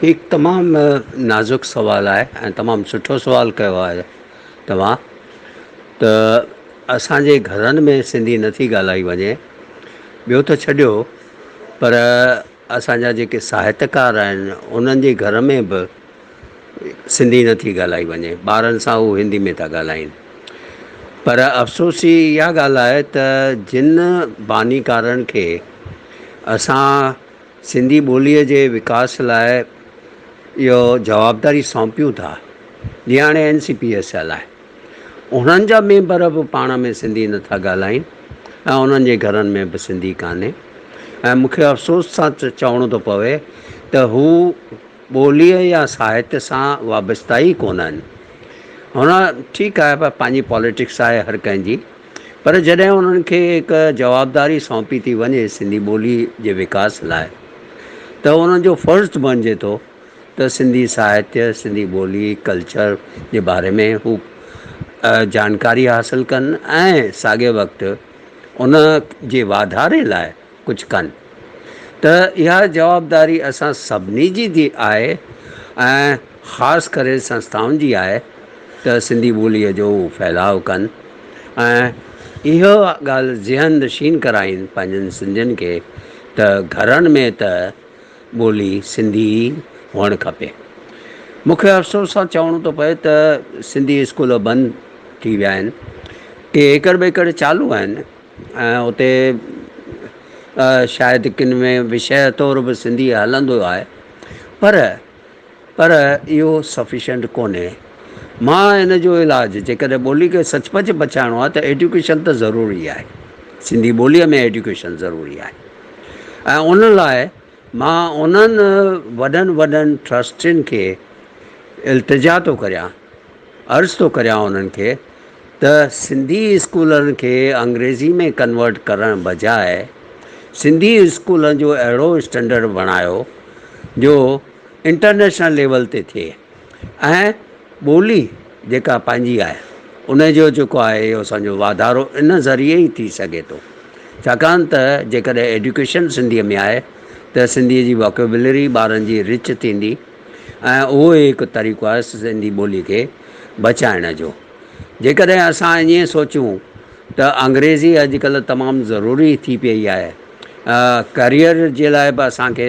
هي تمام نازڪ سوال آهي ۽ تمام سٺو سوال ڪيو آهي توهان ته اسانجي گهرن ۾ سنڌي نٿي ڳالهائي وڃي ٻيو ته ڇڏيو پر اسان جا جيڪي ساهتڪار آهن انهن جي گهر ۾ به سنڌي نه ٿي ڳالهائي وڃي ٻارن سان هو هندي ۾ ٿا ڳالهائين پر افسوس جي اها ڳالهه آهي ته جن بانيڪارن کي اسان سنڌي ٻوليء جي وڪاس لاء اهو جوابداري سونپيون ٿا جيئن هاڻي N C P S L آهي انهن جا ميمبر به پاڻ ۾ سنڌي نه ٿا ڳالهائين ۽ انهن جي گهرن ۾ به سنڌي ڪانهي ۽ مون کي افسوس سان چوڻو ٿو پوي ته هو ٻوليء يا ساهت سان وابسته ئي ڪونه آهن. هن ٺيڪ آهي پر پنهنجي پاليٽڪس آهي هر ڪنهن جي پر جڏهن انهن کي هڪ جوابداري سونپي ٿي وڃي سنڌي ٻوليء جي وڪاس لاء ته انهن جو فرض بڻجي ٿو ته سنڌي ساهتيه، سنڌي ٻولي، ڪلچر جي باري ۾ هو جانڪاري حاصل ڪن ۽ ساڳئي وقت ان جي واڌاري لاء ڪجهه ڪن ته اها جوابداري اسان سڀني جي ٿي آهي ۽ خاص ڪري سنسٿائن جي آهي ته سنڌي ٻوليء جو هو ڦهلاء ڪن ۽ اها ڳالهه ذهن نشين ڪرائين پنهنجن سنڌين کي ته گهرن ۾ ته ٻولي سنڌي ئي هئڻ کپي. مون کي افسوس سان چوڻو ٿو پئي ته سنڌي اسڪول بند ٿي ويا آهن. ڪي ايڪڙ ٻيڪڙ چالو آهن ۽ اتي شايد ڪن ۾ وشيه طور به سنڌي هلندو آهي پر پر اهو سفيشنٽ ڪونهي. مان ان جو علاج جيڪڏهن ٻولي کي سچ پچ بچائڻو آهي ته ايڊيوڪيشن ته ضروري آهي. سنڌي ٻوليء ۾ ايڊيوڪيشن ضروري آهي ۽ ان لاء مان انهن وڏن وڏن ٽرسٽين کي التجا ٿو ڪريان، عرض ٿو ڪريان انهن کي ته سنڌي اسڪولن کي انگريزي ۾ ڪنورٽ ڪرڻ بجاء سنڌي اسڪولن جو اهڙو اسٽينڊرڊ بڻايو جو انٽرنيشنل ليول تي ٿئي ۽ ٻولي جيڪا پنهنجي آهي ان جو جيڪو آهي اهو اسان جو واڌارو ان ذريعي ئي ٿي سگهي ٿو ڇاڪاڻ ته جيڪڏهن ايڊوڪيشن سنڌيء ۾ آهي ته سنڌيء جي واڪيبلري ٻارن جي رچ ٿيندي ۽ اهو ئي هڪ طريقو آهي سنڌي ٻولي کي بچائڻ جو جيڪڏهن اسان ائين سوچون ته انگريزي اڄڪلهه تمام ضروري ٿي پيئي آهي ڪريئر جي لاء به اسان کي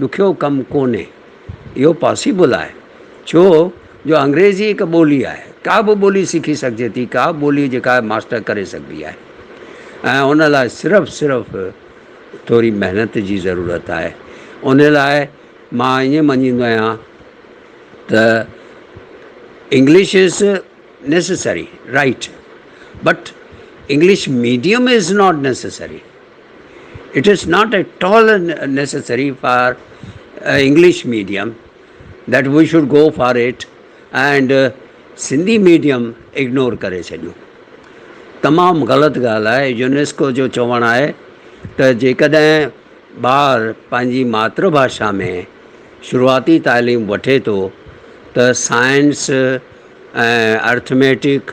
ڏکيو ڪم ڪونهي. اهو پاسيبل آهي ڇو جو انگريزي هڪ ٻولي آهي. ڪا به ٻولي سکي سگهجي ٿي. ڪا به ٻولي جيڪا ماسٽر ڪري سگهبي آهي ۽ ان لاء صرف صرف ٿوري محنت جي ضرورت آهي. ان لاء مان ائين مڃيندو آهيان ته English is necessary right but English medium is not necessary. It is not at all necessary for English medium that we should go for it and Sindhi medium ignore ڪري ڇڏيون تمام غلط ڳالهه آهي يونيسڪو جو چوڻ آهي ته جيڪڏهن ٻار پنهنجي ماتر ڀاشا ۾ شروعاتي تعليم وٺي ٿو ته سائنس ۽ ارٿميٽڪ